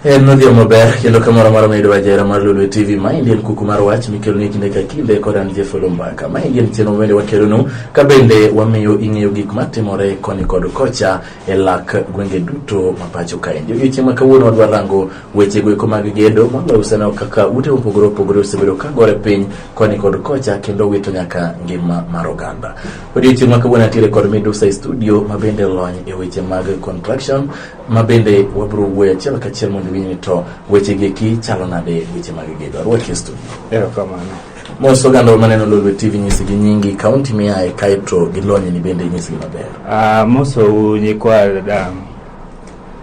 En nodhi maber kendo kamoro amora mayudo wajera mar Lulu TV ma endi en kuku mar wach mikelo ni kinde ka kinde kod an Jeff Lumbaka ma endi en chenro mabende wakelonu ka bende wamiyo ing'eyo gik matimore koni kod kocha e lak gwenge duto ma pacho kaendi. Odiochieng' ma kawuono wadwa rango Weche goeko mag gedo mama useneno kaka ute mopogore opogore osebedo ka gore piny koni kod kocha kendo wito nyaka ngima mar oganda. Odiochieng' ma kawuono atiere kod midusa e studio ma bende lony e weche mag contraction ma bende wabiro wuoyo achiel kachiel mondo iwinj ni to weche gieki chalo nade weche mag gedo. Arwaki e studio. Erokamano. Mos oganda maneno Lolwe TV nyisi gi nyingi, kaunti miaye kaeto gi lonyni bende nyisi gi maber. Ah, mosou nyikwa dada.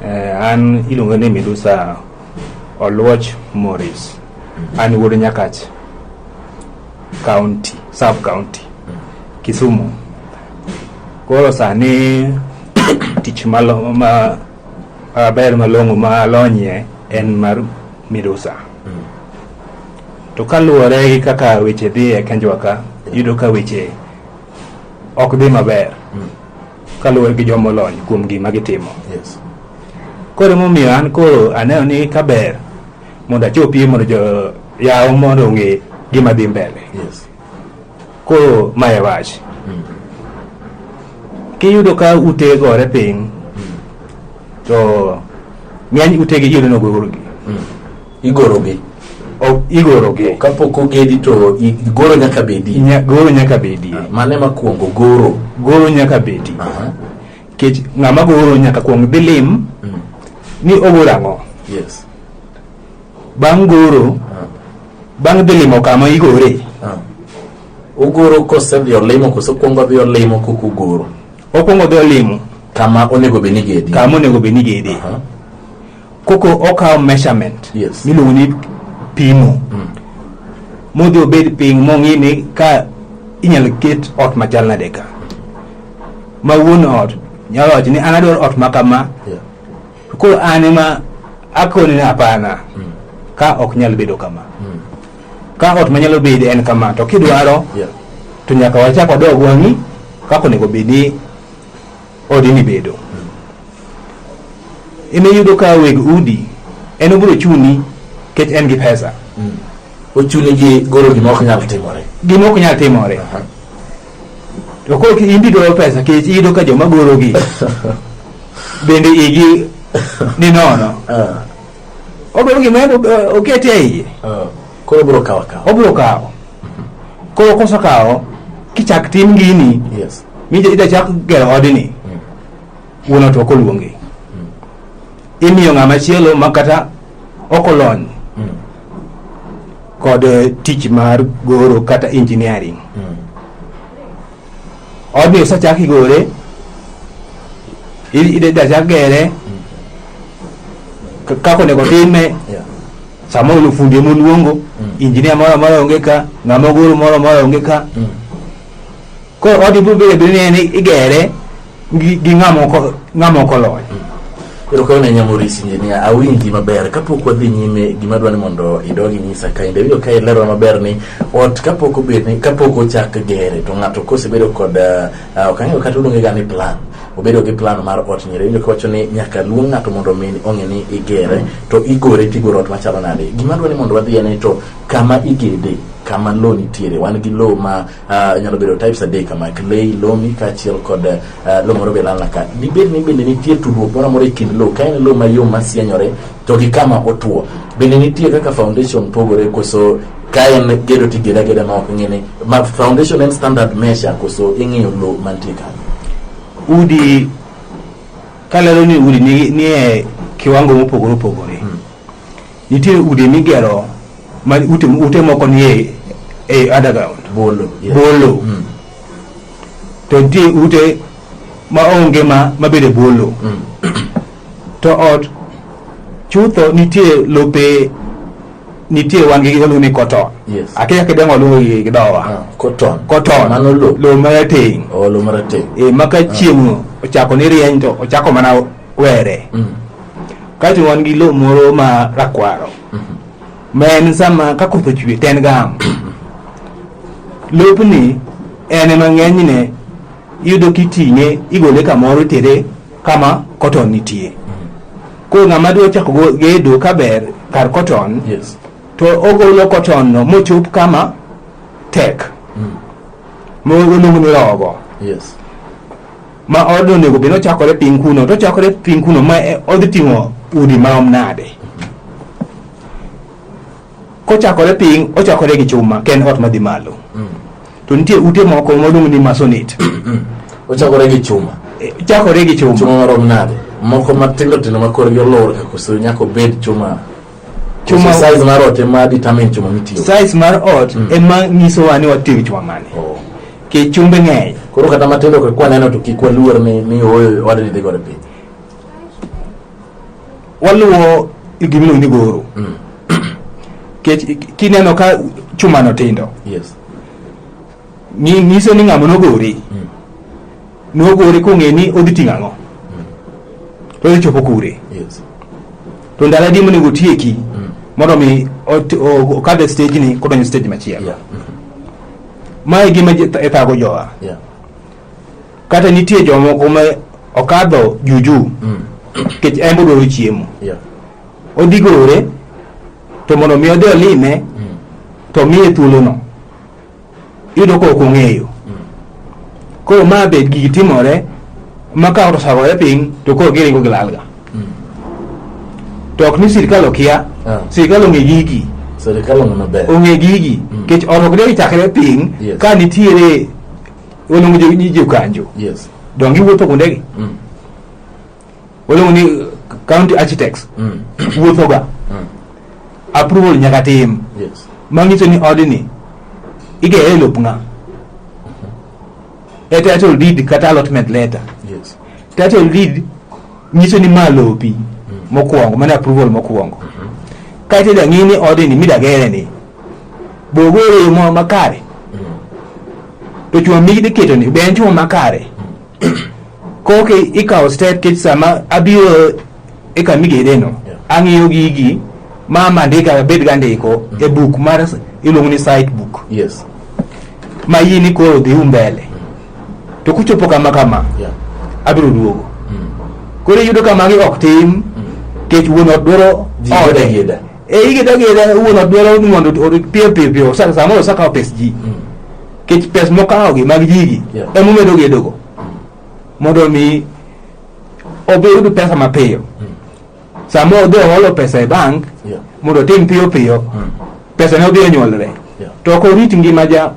Eh, an iluonga ni Midusa Oluoch Morris. An wuod Nyakach County, Sub County, Kisumu. Koro sani tich malo ma maber malong'o ma alonyie en mar Midusa. To kaluwore gi kaka weche dhi e kenjwa ka, iyudo ka weche ok dhi maber. kaluwore gi joma olony kuom gima gitimo yes. koro emomiyo an koro aneno ni kaber mondo achopie mondo jo yawo mondo ong'e gima dhi mbele yes. koro ma e wach mm. kiyudo ka ute gore piny mm. to ng'eny utegi iyudo nogurgi mm. igorogi igorogi kapok ogedi to goro nyaka bedi goro nyaka bedi ah, mane makuongo goro goro nyaka bedi kech ng'ama goro nyaka kuong dhi lim mm. ni ogoro ang'o yes bang' goro ah. bang' dhi limo kama igore ah. ogoro kose dhi olimo kose okuongo dhi olimo kok ogoro okuongo dhi olimo kama onego bed ni gedi kama onego bed ni gedi uh -huh. koko okawo measurement Yes. miluongo ni pimo modhi obed piny mong'i ni ka inyalo ket ot machal nade ka ma wuon ot nyalo wacho ni an adwaro ot ma kama Yeah. to koro an ema akoni ni hapana ka ok nyal bedo kama ka ot manyalo bede en kama to kidwaro Yeah. to nyaka wachak wadog wang'i kaka onego bedi odi mibedo ema iyudo ka weg udi en obiro chuni kech en gi pesa ochuni gi goro gima ok nyal timore gima ok nyal timore to koro in be dwaro pesa kech iyudo ka joma gorogi bende igi ni nono Ah, odwaro gima en okete e iye ah. Koro obiro kawo akawa. obiro kawo koro kosekawo kichak tim gini Yes. mija ida chak gero odni wuon ot ok oluongi imiyo ng'ama chielo ma kata ok olony kod eh, tich mar goro kata engineering odni osechak igole i- ideda chak gere k- kaka onego time Yeah. samoro ni fundi ema oluongo injinia moro amora onge ka ng'ama ogoro moro amora onge ka Mm. koro odi biro bedo ni en igere gi, gi ng'ama ok o- ng'ama ok oloyo Koro kayo na nyamorisi injinia, awinji maber. Kapok wadhi nyime, gima dwa ni mondo idog inyisa ka inde winjo ka ilero maber ni ot kapok obed ni kapok ochak gere to ng'ato kosebedo kod ah, ah, ok ang'eyo kata uluonge ga ni plan. Obedo gi plan mar ot nyere winjo kawacho ni nyaka luong ng'ato mondo omi ong'e ni igere to igore tigoro ot machalo nade. Gima dwa ni mondo wadhi en ni to kama igede kama low nitiere wan gi low ma Ah, nyalo bedo types adek kama clay lomi kaachiel kod ah, lo moro be lalna ka dibed ni bende nitie tudruok moro amora e kind lo ka en lo mayom masienyore to gi kama otwo bende nitie kaka foundation pogore koso ka en gedo to igeda geda ma ok ng'ini ma foundation en standard measure koso ing'iyo lo mantie kanyo udi kalero ni udi ni- nie kiwango mopogore opogore Nitie udi migero ma ute, ute moko nie e underground Bolo. yes. bolo Mm. to nitie ute ma onge ma mabede bolo Mm. to ot chutho nitie lope nitie wangi giluongo ni koton Yes. akia kidengo luongo gi gi dowa Ah, Cotton. koton Mano lo. lo marateng Olo marateng. e maka chieng' ochako ni rieny to ochako mana were Mm. Kato wan gi lo moro ma rakwaro. Ma en sama ka koth ochwe to en gam. Lopni en ema ng'enyne iyudo kiting'e igole kamoro itere kama cotton nitie. Koro ng'ama dwa chako go- gedo kaber kar cotton Yes. to ogolo cotton no mochop kama tek. Mogolo ni rogo. Yes. ma odno onego bed ochakore piny kuno to ochakore piny kuno ma e- odhi ting'o udi marom nade kochakore piny ochakore gi chuma ken ot madhi malo to nitie ute moko modong ni masonit ochakore gi chuma Eh, chakore gi chuma chuma marom nade moko matindo tindo ma korgi olor ka koso nyaka obed chuma Chuma- Chuma size mar ot ema determine chuma mitiyo. size mar ot Mm. ema nyisowa ni watiyo gi chuma mane Oh. kech chumbe ng'eny Koro kata matindo ka kwaneno to kik waluor ni ni ooyo wadni dhi godo piny. waluwo gimiluongo ni goro Mm. kech kineno ka chumano tindo Yes. nyi- nyiso ni ng'ama nogori Mm. nogore kong'e ni odhi ting'o ang'o to odhi chopo kure Yes. to ndalo adi monego otieki mondo mi ot- o- okadh e stage ni kodonjo stage machielo Yeah. ma e gima je- e thago jowa Yeah. kata nitie jomoko ma okadho juju Mm. nikech en bodwaro chiemo Yeah. odhi gore to mondo mi odhi olime to miye thuolono iyudo ka ok ong'eyo koro ma be gigi timore ma ka osagoye piny to koro giringo gilalga to ok ni sirikal okia Ah. sirikal ong'e gigi Serikal ong'e maber. ong'e gigi Mm. kech ot ok deri chakre piny Yes. ka nitiere waluongo jo- ni jokanjo Yes. donge iwuotho kuondegi Mm. waluongo ni county architects Mm. wuothoga Mm. approval nyaka tim Yes. manyiso ni odni igeye e lop ng'a e title deed kata allotment letter Yes. title deed nyiso ni ma lopi mokwongo mane approval mokwongo kaeto idwa ng'i ni odni midagere ni bogoro e yo moro makare Mm. to chuma mikidhi ketoni be en chuma makare koki ikawo step kech sama abiro e kama igedeno ang'iyo gigi ma mandika abed ga ndiko e buk mar iluongo ni site book yes ma yie ni koro dhi umbele to kuchopo kama kama yeah. abiro duogo mm. koro iyudo ka magi ok tim mm. kech wuon ot dwaro ode e igeda geda wuon ot dwaro ni mondo orit piyo piyo piyo sa- samoro osakawo pes ji kech pes mokawogi mag jigi Yeah. emomedo gedogo mondo mi obiyud pesa mapiyo sama odhi oholo pesa e bank Yeah. mondo otim piyo piyo pesa ne odhi onyuolre Yeah. to ok orit ngima ja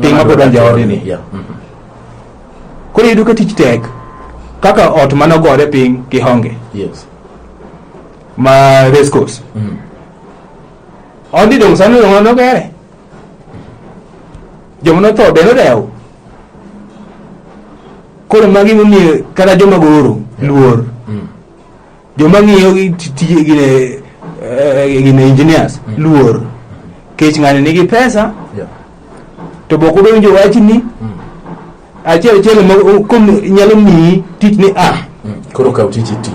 piny mapod anja odini Yeah. Mhm. koro iyudo ka tich tek kaka ot manogore piny kihonge Yes. ma race course odi dong sani dong an ogere joma notho be nodewo koro magi momiyo kata joma goro luor joma ng'iyo gi ti- tije gine eh, gine engineers luor kech ng'ani nigi pesa Yeah. to bok udonjo wachni achiel achiel ma o- kom nyalo miyi tich ni a koro kaw tich iti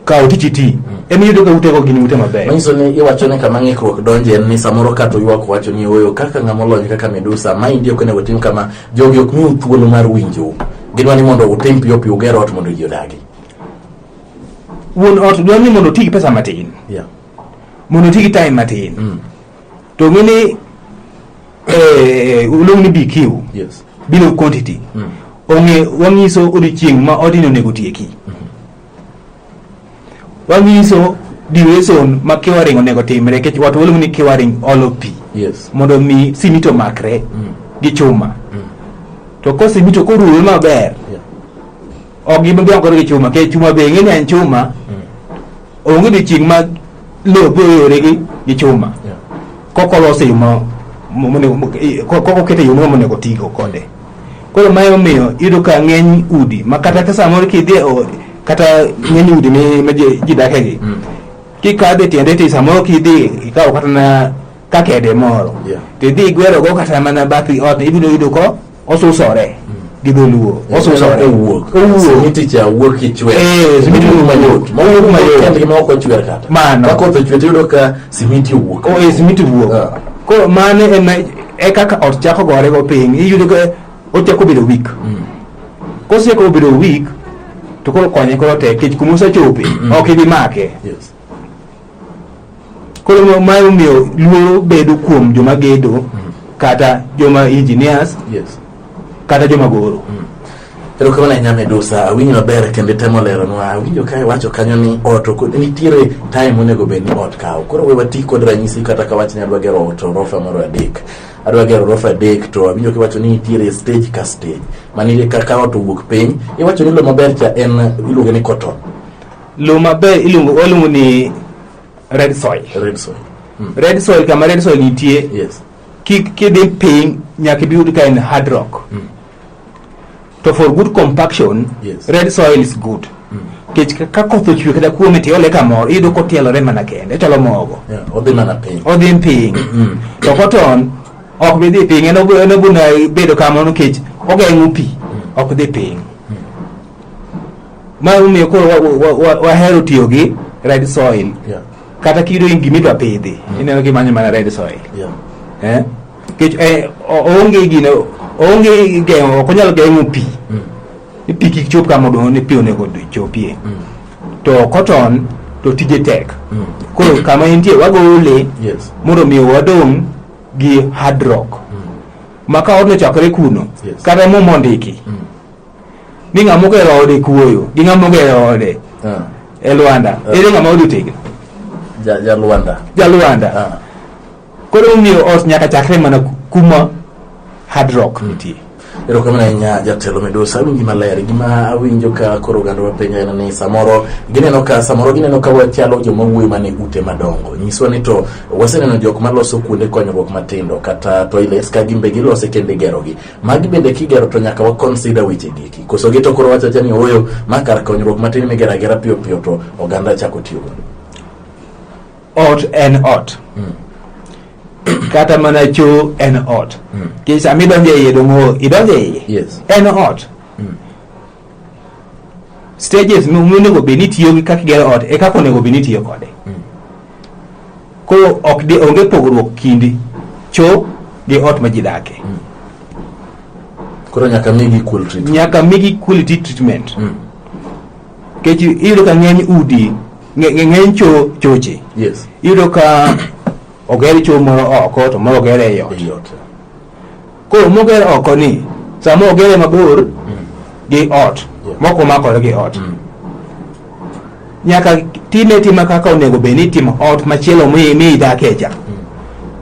kawo tich iti ema iyudo ka utego gin ute mabeyo manyiso ni iwacho ni kama ng'ikruok donje en ni samoro ka to ywak wacho ni oyo kaka ng'ama olony kaka medusa ma indi ok onego tim kama jogi ok miu thuolo mar winjou gidwa ni mondo utim piyo piyo uger ot mondo ji odagi wuon ot dwaro ni mondo oti gi pesa matin yeah. mondo oti gi time matin to ng'e ni eh, oluong ni BQ Yes. bill of quantity ong'e wang'iso odiochieng' ma odini onego tieki wang'iso duration ma kiwaring onego timre kech wat waluongo ni kiwaring olo pi Yes. mondo mi simiti omakre gi chuma to ko simiti ok oruwe maber Yeah. ok gimakore gi chuma kech chuma be ng'e ni en chuma onge odiochieng' ma lope oyore gi gi chuma kok olose yo ma mo- monego mo- i- ko- kok okete yo moro monego tigo kode koro ma emomiyo iyudo ka ng'eny udi ma kata ka samoro kidhi e o- kata ng'eny udi mi- ma ji ji dake gi kikadhe tiende ti samoro kidhi ikawo kata na kakede moro Yeah. tidhi igwerogo kata mana bathi ot ibiro yudo ko osuso re gi dholuo osuso re owuok owuok simiticha wuok kichwe eh simiti wuok mayot mawuok mayot kende ma ok ochwer kata mano koth ochwe tiyudo ka simiti owuok o oh, eh simiti wuok ah. ko mane en e kaka ot chako gore go piny iyudo ka ochako bedo weak mm. koseko bedo weak to koro konye koro tek kech kuma osechope mm. ok ibi make yes. koro ma omiyo luoro bedo kuom joma gedo mm. kata joma engineers yes. kata joma goro mm. erokamano ahinya medusa awinjo maber kendo itemo leronwa awinjo ka iwacho kanyo ni ot nitiere time monego bed ni ot kawo koro we wati kod ranyisi kata ka wach ni adwa gero ot orofa moro adek adwa gero orofa adek to awinjo kiwacho ni nitiere stage ka stage mani ka ot owuok piny iwacho ni lo maber cha en iluonge ni cotton Lowo maber iluongo waluongo ni red soil. Red soil. Mm. Red soil kama red soil nitie. Yes. Kik kidhi piny nyaka ibi yud ka en hard rock. Mm. To for good compaction, yes. red soil is good. Mm. Kech ka koth ochwe kata kuome to iole kamoro iyudo kotielore mana kende ochalo mogo. Yeah, odhi mana piny. Odhi piny. Mm. To cotton ok bi dhi piny en obuna bedo kamano kech ogeng'o pi mm. ok dhi piny. ma omiyo koro wa- wa- wa- wahero tiyo gi red soil Yeah. kata kiyudo in gima idwa pidhi ineno kimanyo mana red soil Yeah. eh? Kech, eh, o- oonge gino oonge geng'o ok onyal geng'o pi ni pi kik chop kama odong' ni pi onego chopie to cotton to tije tek koro kama entie wagole Yes. mondo mi wadong' gi hard rock ma ka odno chakre kuno Yes. kata muma ondiki ni ng'ama ogero ode kuoyo gi ng'ama ogero ode Ah, e lwanda Ah. ere ng'ama ode otegno ja- jalwanda jalwanda Ah, koro omiyo ot nyaka chakre mana ku- kuma hard rock nitie erokamano ahinya jatelo midusa awinji maler gima awinjo ka koro oganda wapenjo en ni samoro gineno ka samoro gineno ka wachalo joma wuoyi mane ute madongo nyiswa ni to waseneno jok maloso kuonde konyruok matindo kata toilets ka gimbe gilose kendo igerogi Magi bende kigero to nyaka wa consider weche giki. Koso gi to koro wacho acha ni oyo ma kar konyruok matin migero agera piyo piyo to oganda chako tiyo godo. Ot en ot. Kata mana cho en ot. Kech sama idonjo e iye dong' idonjo e iye. Yes. En ot. stages monego bed ni tiyo gi kaka igero ot e kaka onego bed ni tiyo kode koro ok de onge pogruok kind choo gi ot ma ji dake koro nyaka migi equal treatment nyaka migi quality treatment Mm. kech iyudo ka ng'eny udi ng'e- ng'e- ng'eny cho choche yes iyudo ka oger cho moro oko to moro oger e ot ei ot koro moger oko ni sama ogere mabor gi ot mok omakore gi ot nyaka time tima kaka onego bed ni itimo ot machielo mi mi idakie cha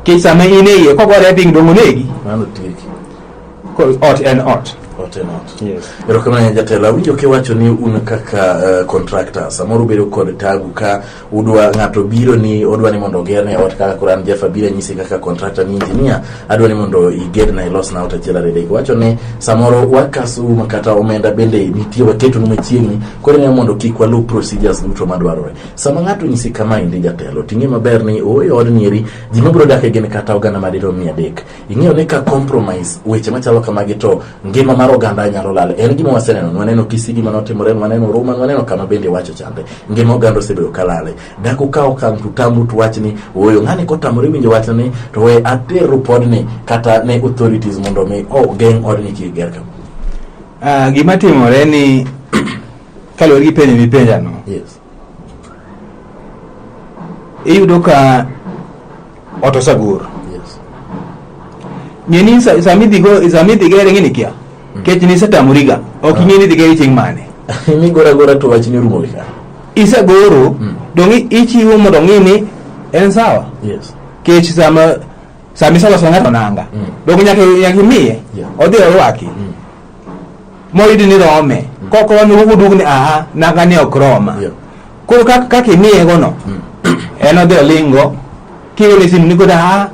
kech sama in e iye kogore piny dong' onegi Mano tieki. Koro ot en ot Ote not. Yes. Erokamano jatelo, awinjo kiwacho ni un kaka eh, contractor samoro ubedo kod tabu ka udwa ng'ato biro ni odwa ni mondo ogerne ot kaka koro an Jeff abiro anyisi kaka contractor ni engineer adwa ni mondo igerna ilosna ot achiel ariyo adek wacho ni samoro wakasu ma kata omenda bende nitie waketonu machiegni koro ing'e mondo kik waluw procedures duto madwarore sama ng'ato nyisi kama endi jatelo ting'e maber ni ooyo odni eri ji mabiro dake gin kata oganda madirom mia adek ing'eyo ni ka compromise weche machalo kamagi to ngima mar oganda nyalo lal. En gima waseneno, waneno Kisigi mane otimore, waneno Ruma, waneno kama bende wacho chande. Ngima oganda osebedo ka lale. Dak ukaw okang' to utamru to wach ni ooyo ng'ani kotamore winjo wach ni to we ater ripod ni kata ne authorities mondo mi ogeng' oh, odni kik ger kama. Uh, ah, gima timore ni kaluwore gi penjo mipenjano yes. iyudo ka ot osagor Yes. ng'eni sa- sama idhi go- sama idhi gere ng'ini kia kech ni isetamoriga ok ing'e ni idhi gere chieng' mane Migora agora to wachni orumo gi ka. isegoro Mm. dong' i- ichiwo mondo ng'i ni en sawa Yes. kech sama sama iseloso ng'ato nanga Mm. dong' nyaka nyaka imiye Yeah. odhi orwaki Mm. moyudi ni rome mm. kok rome wuduog ni aha naga ni ok roma yeah. koro kaka kak imiyegono mm. en odhi olingo kiwene simu ni kod aha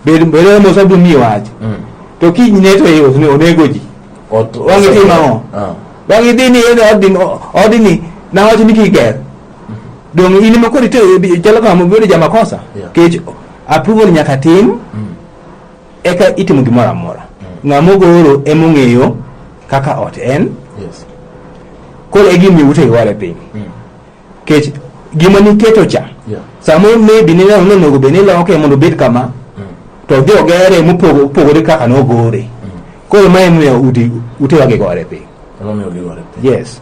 bedo mos abiro miyi wach mm. to kinyne to iusni onego ji wang'i tim ang'o ah. wang'i dhi ni yedhe odini nawacho ni kiger mm-hmm. dong in ma kodi to chalo kama bedo jamakosa kech approval nyaka tim mm. eka itimo gimoro amora ng'a mogoro emong'eyo kaka ot en Yes. koro e gimiyo ute iware piny Mm. kech gima niketo cha Yeah. samoro maybe nineno ni onego bed ni iloke mondo obed kama Mm. to odhi ogere mopogo- opogore kaka nogore koro ma emomiyo udi- utewa gigore piny Emomiyo giware piny. yes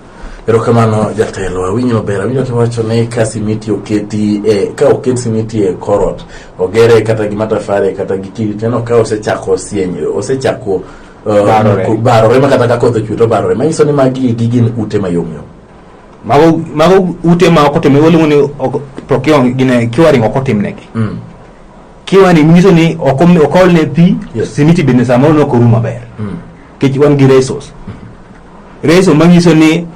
erokamano jatelo awinyo maber awinyo kiwacho ni ka simiti oketi e, ka oket simiti e korot ogere kata gi matafare kata gi kidi teno ka osechako sieny osechako uh, Barore. ku- barore ma kata ka koth ochwe to barore manyiso ni magi gi gin ute mayomyom mago mago ute ma ok otim waluongo ni ok- procure- gine curing ok otimnegi Mm. kiwani nyiso ni ok om- ok olne pi Yes. simiti bende samoro ne ok orum maber Mm. kech wan gi resos reso manyiso ni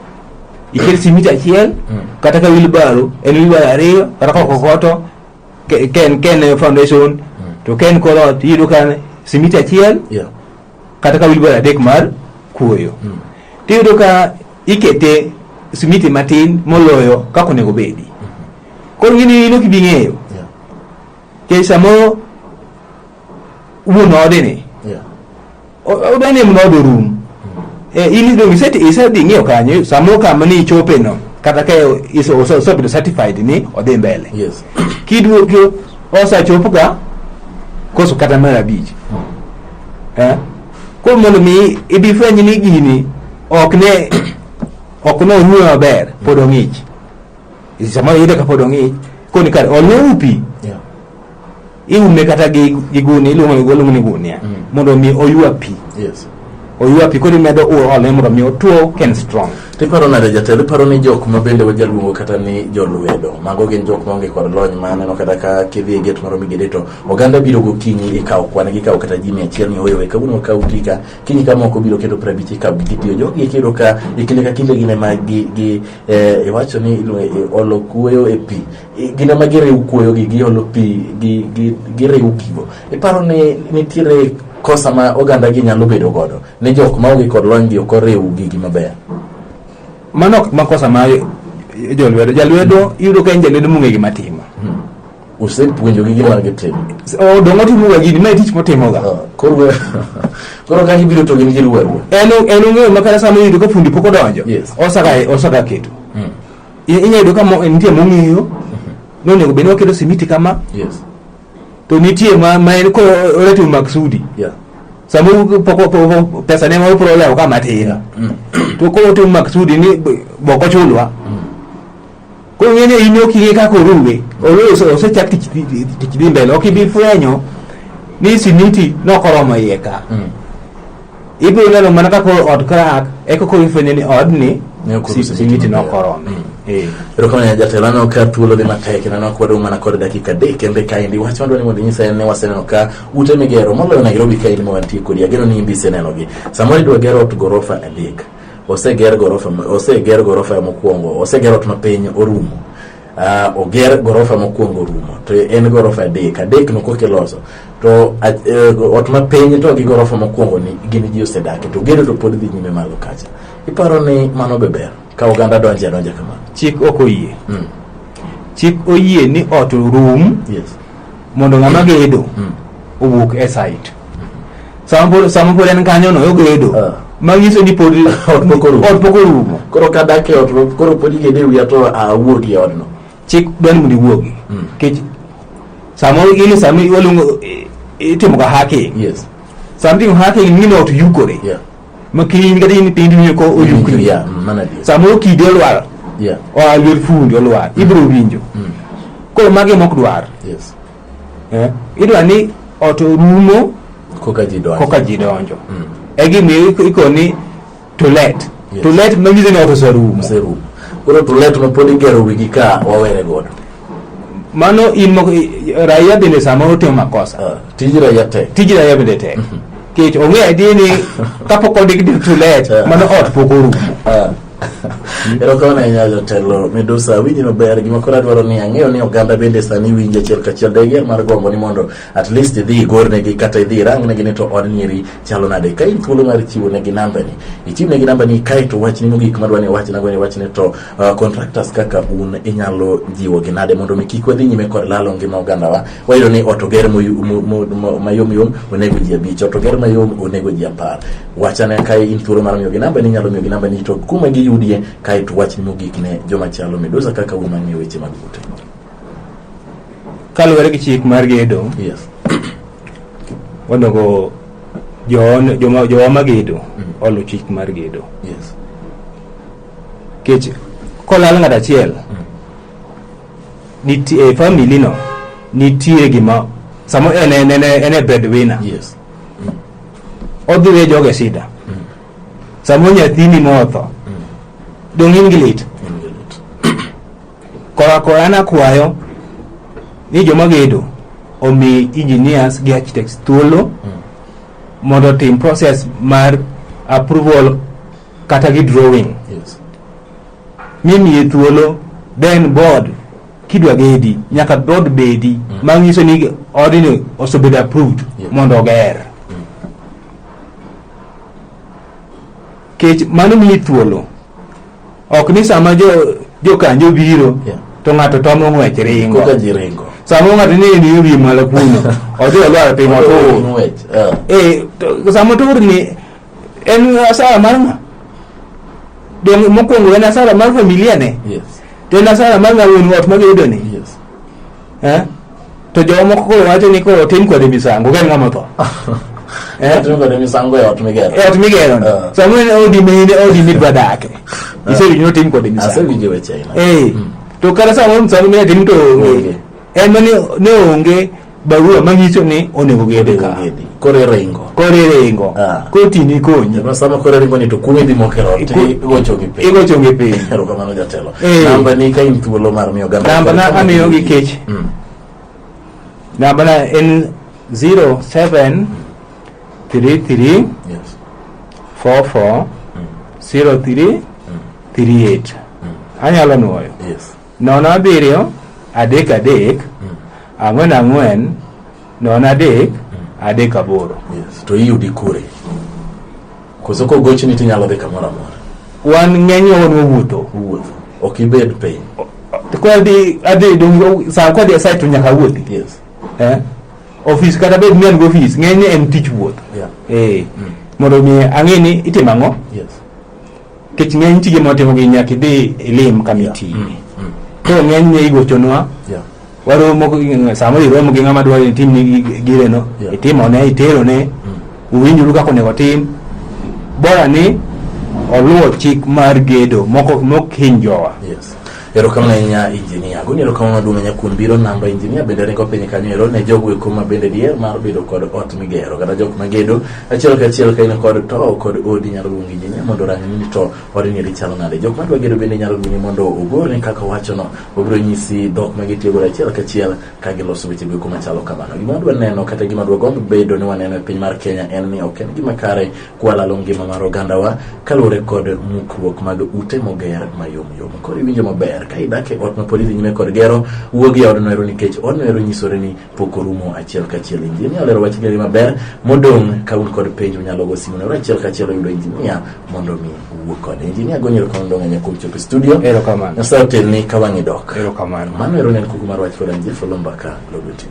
iket simiti achiel Mm. kata ka wilbaro en wilbaro ariyo kata ka kokoto Ke- Ken Ken Foundation to Ken koro iyudo ka simiti achiel Yeah. kata ka wilbaro adek mar kuoyo tiyudo ka ikete simiti matin moloyo kaka onego bedi koro gini in ok ibi ng'eyo Yeah. kech samoro wuon odeni Yeah. Odwa ni mna odo rum. Eh, in idong iseti isedhi ng'iyo kanyo samo kama ni ichope no kata ka iso oso oso bedo certified ni odhi mbele. Yes. Kidwo kyo osa chopo ka koso kata mara bich. Eh? Ko mondo mi ibi fwenyi ni gini ok ne ok ne onyuwe maber pod ong'ich. Sama yede ka pod ong'ich koni kar olne upi. Yeah. iume kata gi gi gunia iluongo ni iluongo ni gunia Mm. mondo mi oywa pi yes oywa pi koro imedo u- ole mondo mi otwo ken strong tiparo nade jatelo iparo ni jok ma bende wajaluongo kata ni jolwedo mago gin jok maonge kod lony ma aneno kata ka kidhi e get moro migede to oganda biro gokinyi ikawo kwan gikawo kata ji mia achiel ni oyowe kawuono wakaw tika kinyi ka moko biro kendo piero abich ikawo gitiyo jogi kiyudo ka e kinde ka kinde gine ma gi, gi eh, iwacho ni iluongo- eh, olo kuoyo e pi gin ema giriw kuoyogi giolo pi giriw gigo iparo ni nitiere kosa ma oganda gi nyalo bedo godo ni jok ma onge kod lony gi ok oriw gigi maber mano ok makosa ma jolwedo jalwedo iyudo ka en jalwedo mong'e gima timo hmm. usepuonjogi gima gitimo oh, dongo timoga gini ma tich motimoga ah, koro ka ibiro to gin giluwa en ong'eyo ma kata sama iyudo ka fundi pok odonjo osaka keto hmm. I- inyalo yudo ka mo- nitie mong'eyo ni onego bed ni waketo simiti kama Yes. to nitie ma ma en ko oratimo maksudi Yeah. sama u- po- po- po- pesa ne ma upro lewo ka matin to koro otimo maksudi ni b- bok ochulwa koro ng'e ni in ok ing'e kaka oruwe oruwe ose- osechak tich dhi- dhi- tich dhi mbele ok ibi fwenyo ni simiti nokoromo iye ka Mm. ibiro neno mana ka koro ot krak eka koro ifwenyo ni odni Ne ok oruse simiti gik maber. nokorome Mm. Eh. erokamano ya jatelo aneno ka thuolo dhi matek kendo aneno ka wadong' mana kod dakika adek kende kaendi wach madwa ni mondo inyisa en ni waseneno ka ute migero moloyo nairobi kaendi ma wantie kodi ageno ni imbi isenenogi samoro idwa gero ot gorofa adek oseger gorofa oseger gorofa mokwongo oseger ot mapiny orumo Uh, oger gorofa mokwongo rumo to en gorofa adek adek no koke loso to uh, ot ma piny to gi gorofa mokwongo ni gin ji osedake to gedo to pod dhi nyime malo kacha iparo ni mano be ber ka oganda donje adonja kamano chik ok oyie mm. chik oyie ni ot rum yes. mondo ng'ama gedo mm. owuok e site sama pod en kanyo no ogedo ah. manyiso ni pod ot pok orumo koro kadak e ot koro pod igede wiya to awuog e odno chik dwani mondo iwuogi hmm. kech sama in sama iwaluongo itimo ka hacking yes something hacking ni not yukore yeah ma kiny kata in piny ni ko oyukni yeah mana di sama okidi olwar yeah o alwer fundi olwar hmm. ibro winjo hmm. koro magi mok dwar yes eh? idwa ni ot orumo koka ji donjo, koka ji donjo. Mm. egimiyo iko ni to let yes. to let manyiso ni ot oserumo oserumo koro to let mapod igero wigi ka wawere godo mano in moko raia bende samoro timo makosa uh, tij raia tek tij raia bende tek mm -hmm. kech ong'e adier ni kapok ondik to let uh, mano ot pok orumo uh, Erokamano ahinya jatelo Medusa, awinji maber. Gima koro adwaro ni ang'eyo ni oganda bende sani winji achiel kachiel. Dayier mar gombo ni mondo at least idhi igornegi kata idhi irangnegi ni to od nyiri chalo nade. Ka in thuolo mar chiwo negi nambani, ichiw negi nambani kae to wachni mogik madwa ni wachna go ni wachni to uh, contractors kaka un inyalo jiwo gi nade mondo mi kik wadhi nyime kod lalo ngima ogandawa. Wayudo ni ot oger moyu- mo- mo- mo- mayom yom onego ji abich, ot oger mayom onego ji apar. wachane kae in thuolo mar miyogi namba ni inyalo miyogi namba ni to kuma giyudie kae to wachni mogik ne joma chalo midusa kaka un mang'eyo weche mag ute kaluwore gi chik mar gedo yes onego joon- joma jowa magedo Mm. olu chik mar gedo yes kech kolal ng'at achiel nitie e family no nitie gima samo en en en en e breadwinner yes odhi we joge sida samo nyathini motho dong' in gi lit kora kora nakwayo ni joma gedo omi engineers gi architects thuolo mondo otim process mar approval kata gi drawing Yes. mimiye thuolo then board kidwa gedi nyaka dhood bedi mm. manyiso ni odni osebedo approved yeah. mondo oger mm. kech mano miyi thuolo ok ni sama jo jokanjo biro yeah. to ng'ato tomo ng'wech ringo sama ng'ato ni ni wi malo kuno odhi olwar piny otur eh. eh, sama otur ni en asara mar ng'a donge mokwongo en asara mar familia ne yes to en asara mar ng'a wuon ot magedo ni yes eh? to jowa moko koro wacho ni koro tim kode misango ka en ng'ama otho eh? Timo kode misango e ot migero e ot migero ni Ah. sama en odi mine odi midwa dake isewinjo ni otim kode misango asewinjo weche aina Eh, to kata samoro msamo mine tim to onge Onge. en ma ne onge barua manyiso ni onego gede ka kore ringo kore ringo ah. koti ni konyi ma sama kore ringo ni to kuwe di mokero ti gocho gi pe gocho gi pe ero kamano jatelo eh. namba ni ka in thuolo mar miyo gamba namba na amiyo gi kech mm. namba na en 07 33 yes 44 03 38 anyalo nuoyo yes Nono abiriyo, adek adek, mm. ang'wen ang'wen, nono adek, mm. adek aboro. Yes. To iyudi kure? Koso kogochni tinyalo dhi kamoro amora? Wan ng'enywa wan wawuotho. Wuotho. Ok ibed piny. Kodi adhi dongo saa kodi asai to nyaka wuothi. Yes. Eh? Ofis kata bed ni an gi ofis ng'enyne en tich wuoth. Yeah. Eh. Mm. Mondo mi ang'e ni itimo ang'o? Yes. Kech ng'eny tije motimo gi nyaka idhi ilim kamiti. Yeah. Mm. Mm. Koro ng'eny ne igochonwa. Yeah. Waromo sama iromo gi ng'ama dwaro itim ni gire no. Yeah. Itimo ne itero ne. Mm. Uwinjuru kaka onego tim. Bora ni oluwo chik mar gedo moko mok hinjowa. Yes. Erokamano ahinya injinia. Guni erokamano maduong' ahinya kuom biro namba injinia bende ringo piny kanyo ero ne jogo eko ma bende dier mar bedo kod ot migero kata jok magedo achiel kachiel ka in kod to kod odi nyalo luongo injinia mondo orangni ni to odni eri chalo nade. Jok madwa gedo bende nyalo luongi mondo ogolni kaka owachono obiro nyisi dhok ma gitiyo godo achiel kachiel ka giloso weche go eko machalo kamano. Gima wadwa neno kata gima wadwa gombo bedo ni waneno e piny mar Kenya en ni ok en gima kare kwalalo ngima mar ogandawa kaluwore kod mukruok mag ute moger mayom yom koro iwinjo maber ka idak e ot ma pod idhi nyime kod gero wuog e odno ero nikech odno ero nyisore ni pok orumo achiel kachiel injinia olero wach geri maber modong' ka un kod penjo unyalo go simu nero achiel kachiel oyudo injinia mondo mi wuo kode injinia gonyero kono dong' anya kuom chopo e studio Erokamano. nyasaye otelni ka wang'i dok Erokamano. mano ero ne en kuku mar wach koda njefo lombaka logo tv